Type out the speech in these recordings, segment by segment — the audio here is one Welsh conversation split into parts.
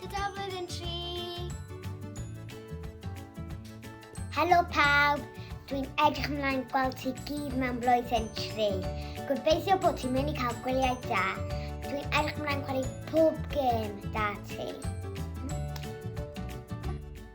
Tudaflwyddyn 3. Helo pawb, dwi'n edrych ymlaen gweld ti gyd mewn blwyddyn 3. Gobeithio bod ti'n mynd i cael gwyliau da. Dwi'n edrych ymlaen chwarae pob gêm da ti.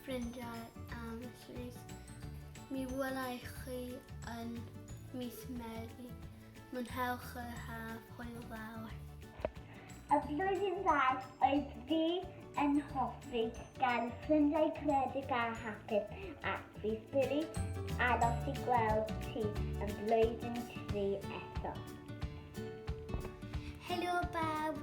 ffrindiau am y llys. Mi welai chi yn mis Medi. Mwynhewch yr haf, hwyl fawr. Y flwyddyn dda oedd fi yn hoffi gan ffrindiau credig a hapus ac fi ffili aros i gweld ti yn flwyddyn tri eto. Helo bawb,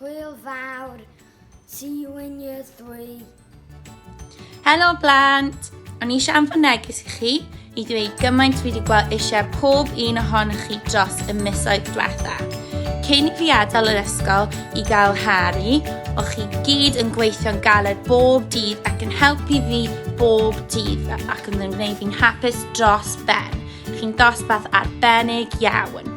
Hwyl fawr. See you in year three. Helo blant! O'n i eisiau anfon neges i chi i ddweud gymaint fi wedi gweld eisiau pob un ohonoch chi dros y misoedd diwetha. Cyn i fi adael yr ysgol i gael Harry, o chi gyd yn gweithio'n galed bob dydd ac yn helpu fi bob dydd ac yn gwneud fi'n hapus dros ben. Chi'n dosbarth arbennig iawn.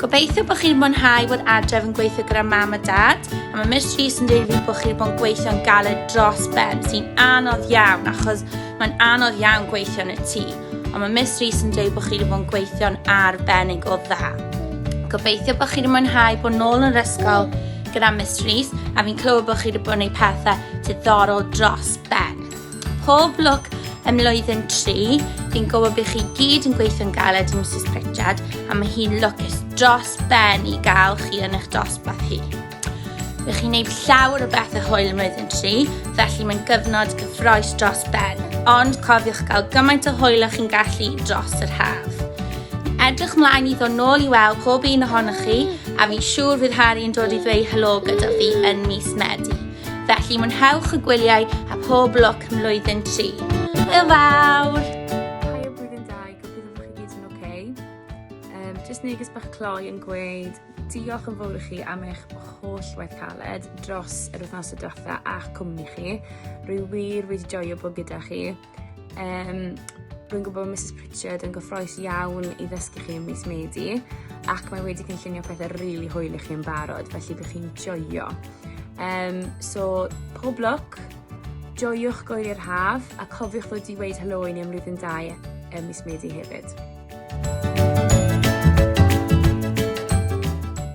Gobeithio bod chi'n mwynhau bod adref yn gweithio gyda mam a dad, a mae Miss Rees yn dweud fi bod chi'n bod yn gweithio yn galed dros ben, sy'n anodd iawn, achos mae'n anodd iawn gweithio yn y tŷ, ond mae Miss Rees yn dweud bod chi'n bod yn gweithio'n arbennig o dda. Gobeithio bod chi'n mwynhau bod nôl yn yr ysgol gyda Miss Rees, a fi'n clywed bod chi'n bod yn ei pethau diddorol dros ben. Pob lwc ym mlwyddyn tri, fi'n gwybod bych chi gyd yn gweithio'n galed i Mrs Pritchard a mae hi'n lwcus dros ben i gael chi yn eich dosbarth hi. Bych chi'n gwneud llawer o bethau hwyl ym mlwyddyn tri, felly mae'n gyfnod gyffroes dros ben, ond cofiwch gael gymaint o hwyl o'ch chi'n gallu dros yr haf. Edrych mlaen i ddod nôl i weld pob un ohonoch chi, a fi'n siŵr fydd Harry yn dod i ddweud helo gyda fi yn mis Medi. Felly mwynhewch y gwyliau a pob lwc mlwyddyn tri. Hwyl fawr! jyst neges bach cloi yn gweud diolch yn fawr i chi am eich holl waith caled dros yr wythnos y diwetha a'ch cwmni chi. Rwy wir wedi joio bod gyda chi. Um, Rwy'n gwybod bod Mrs Pritchard yn gyffroes iawn i ddysgu chi ym mis Medi ac mae wedi cynllunio pethau rili really hwyl i chi yn barod, felly byddwch chi'n joio. Um, so, pob lwc, joiwch gwyliau'r haf a cofiwch ddod i weid helo i ni am rydyn dau ym mis Medi hefyd.